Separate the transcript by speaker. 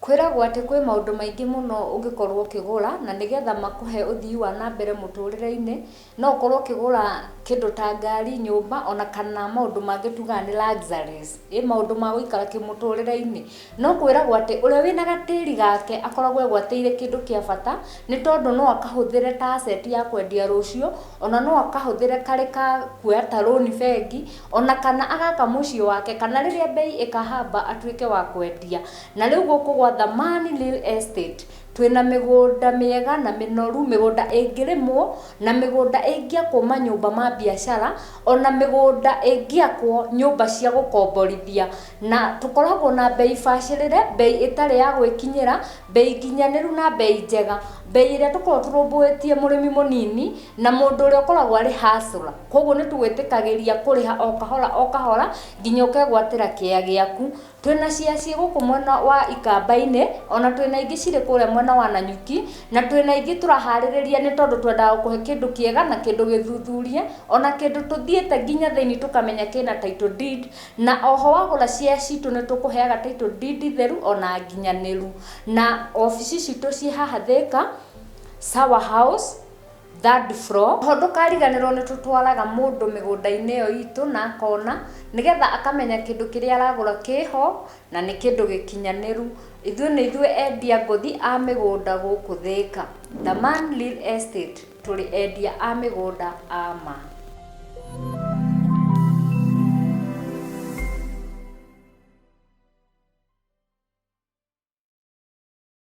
Speaker 1: Kwĩragwo atĩ kwĩ maũndũ maingĩ mũno ũngĩkorwo ũkĩgũra, na nĩgetha makũhe ũthii wa na mbere mũtũrĩre-inĩ, no ũkorwo ũkĩgũra kĩndũ ta ngari, nyũmba, ona kana maũndũ mangĩ tugaga nĩ luxuries, ĩ maũndũ ma gũikara kĩmũtũrĩre-inĩ. No kwĩragwo atĩ ũrĩa wĩna gatĩri gake akoragwo egwatĩire kĩndũ kĩa bata nĩ tondũ no akahũthĩre ta asset ya kwendia rũciũ, ona no akahũthĩre karĩ ka kuoya ta loan bengi, ona kana agaka mũciĩ wake, kana rĩrĩa mbei ĩkahamba atuĩke wa kwendia. Na rĩu gũkũ gwa Thamani Real Estate. Twĩna mĩgũnda mĩega na mĩnoru, mĩgũnda ĩngĩrĩmwo, na mĩgũnda ĩngĩakwo manyũmba ma mbiacara, ona mĩgũnda ĩngĩakwo nyũmba cia gũkomborithia. Na tũkoragwo na mbei bacĩrĩre, mbei ĩtarĩ ya gwĩkinyĩra, mbei nginyanĩru na mbei njega. Mbei ĩrĩa tũkoragwo tũrũmbũĩtie mũrĩmi mũnini, na mũndũ ũrĩa ũkoragwo arĩ hustler. Kũguo nĩ tũgwĩtĩkagĩria kũrĩha o kahora o kahora, nginya ũkegwatĩra kĩea gĩaku. Twĩ na cia ciĩ gũkũ mwena wa Ikamba-inĩ, o na twĩ na ingĩ cirĩ kũrĩa mwena wa Nanyuki, na twĩ na ingĩ tũraharĩrĩria nĩ tondũ twendaga gũkũhe kĩndũ kĩega na kĩndũ gĩthuthurie, o na kĩndũ tũthiĩte nginya thĩinĩ tũkamenya kĩ na title deed, na o ho wagũra share citũ nĩ tũkũheaga title deed theru o na nginyanĩru. Na obici citũ ciĩ haha Thĩka, Sawa House. Third floor, oho ndũkariganĩrwo nĩ tũtwaraga mũndũ mĩgũnda-inĩ ĩyo itũ na akona, nĩgetha akamenya kĩndũ kĩrĩa aragũra kĩho na nĩ kĩndũ gĩkinyanĩru. Ithuĩ nĩ ithuĩ endia ngũthi a mĩgũnda gũkũ Thĩka. The Man Real Estate, tũrĩ endia a mĩgũnda a ma.